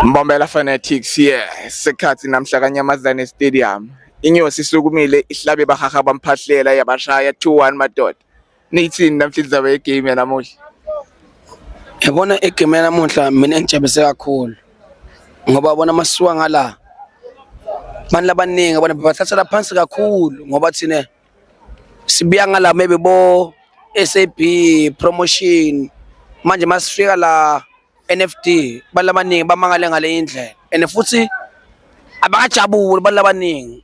Mbombela Fanatics yeah sikhathi namhla kaNyamazane Stadium inyosi isukumile ihlabe bahaha bamphahlela yabashaya 2-1 madoda Nithini namhlanje zabe egame yanamuhla? Yabona egame yanamuhla mina ngijabulise kakhulu. Ngoba bona masuka ngala. Abantu labaningi abona bathathela phansi kakhulu ngoba thina sibiya ngala maybe bo SAB promotion manje masifika la NFD abantu labaningi bamangale ngale indlela and futhi abakajabuli abantu labaningi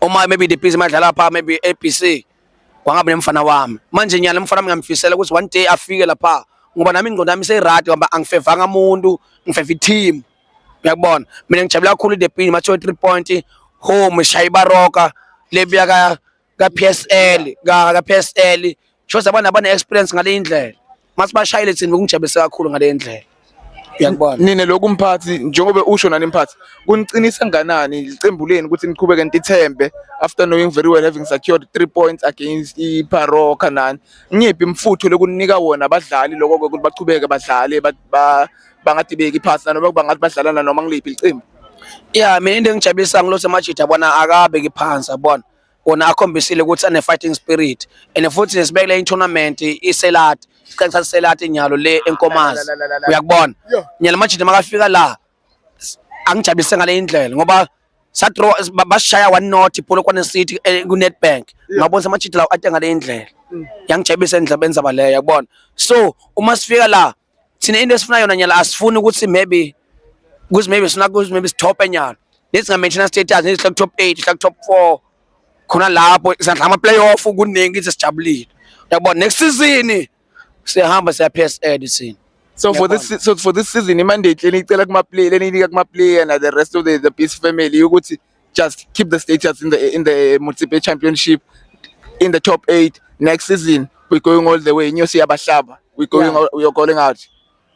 uma maybe the busy madlala pha maybe ABC kwangabe nemfana wami manje nyala umfana wami ngamfisela ukuthi one day afike lapha ngoba nami ingqondo yami seyirad ngoba angifevanga umuntu ngifeva i-team uyakubona mina ngijabula kakhulu the pin mathiwe three point home shaye ibaroka lebuya ka kaPSL ka kaPSL shows abantu abane experience ngale indlela mase bashayile thina bekungijabulise kakhulu ngale indlela uyakubona nina lokhu mphathi njengoba usho nani mphathi kuniqinisa kanganani iqembu leni ukuthi niqhubeke nitithembe after knowing very well having secured 3 points against iParoka nani ngiphi imfutho lokunika wona abadlali lokho ukuthi baqhubeke badlale bangadibeki iphasi noma bangathi badlalana noma ngiliphi iqembu yeah mina into engijabulisa ngilose majida bona akabe kiphansi abona wona akhombisile ukuthi ane-fighting spirit and futhi sibekele i-tournament iselati siqale thatha iselati nyalo le enkomazi uyakubona nyalo majini makafika la angijabulise ngale indlela ngoba sadraw basishaya one not ipolokwane city eh, kunetbank ngabona samajidi lawo ate ngale indlela mm. yangijabulisa endlabeni zaba leyo yakubona so uma sifika la thina into esifuna yona nyala asifuni ukuthi maybe kuthi maybe sina kuthi maybe sitop enyana nesinga mention status nesihla top 8 sihla top 4 khona lapho sandla ama playoff kuningi ithi sijabulile yabona next season siyahamba siya PSL thina So for this so for this season imandate lenicela kuma player leninika kuma player na the rest of the the peace family ukuthi just keep the status in the in the Municipal Championship in the top 8 next season we're going all the way inyosi yabahlaba we're going yeah. we are calling out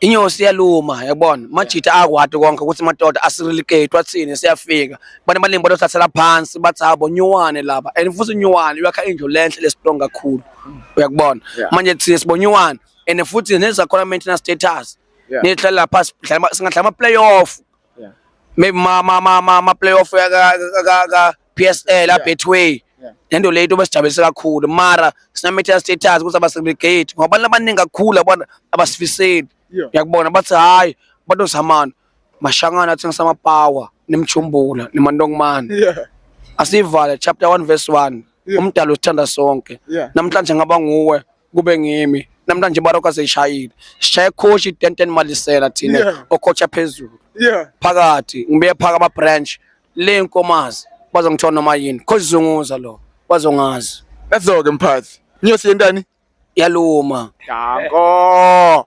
inyosi yaluma yabona majita akwati konke ukuthi madoda asirilikate wathini siyafika abantu abaningi batothathela phansi bathi habo nyuwane laba and futhi nyuwane uyakha indlu lenhle lesitonga kakhulu mm. uyakubona manje thina sibonyuwane and futhi nezakhona maintenance status yeah. nidlala lapha singadlala ama playoff Yeah. Maybe ma ma ma ma, ma playoff ka ka- ka ka PSL a Betway. Yeah. Lento leyo into besijabulise kakhulu. Mara sinamitha status ukuthi abasegregate ngoba abantu abaningi kakhulu abona abasifiseli. Yeah. Uyakubona bathi hayi abantu zamana mashangana athengisa ama power nemchumbula nemandongomane. Yeah. Asivale chapter 1 verse 1. Yeah. Umdalo usithanda sonke. Yeah. Namhlanje ngaba nguwe kube ngimi namhlanje ibaroka seyishayile sishaye coach itenten malisela thina Yeah. ocoacha phezulu yeah phakathi ngibuye phaka ama branch le nkomazi bazongithola noma yini coach zunguza lo bazongazi let's go ke mphathi nyosi yentani yaluma danko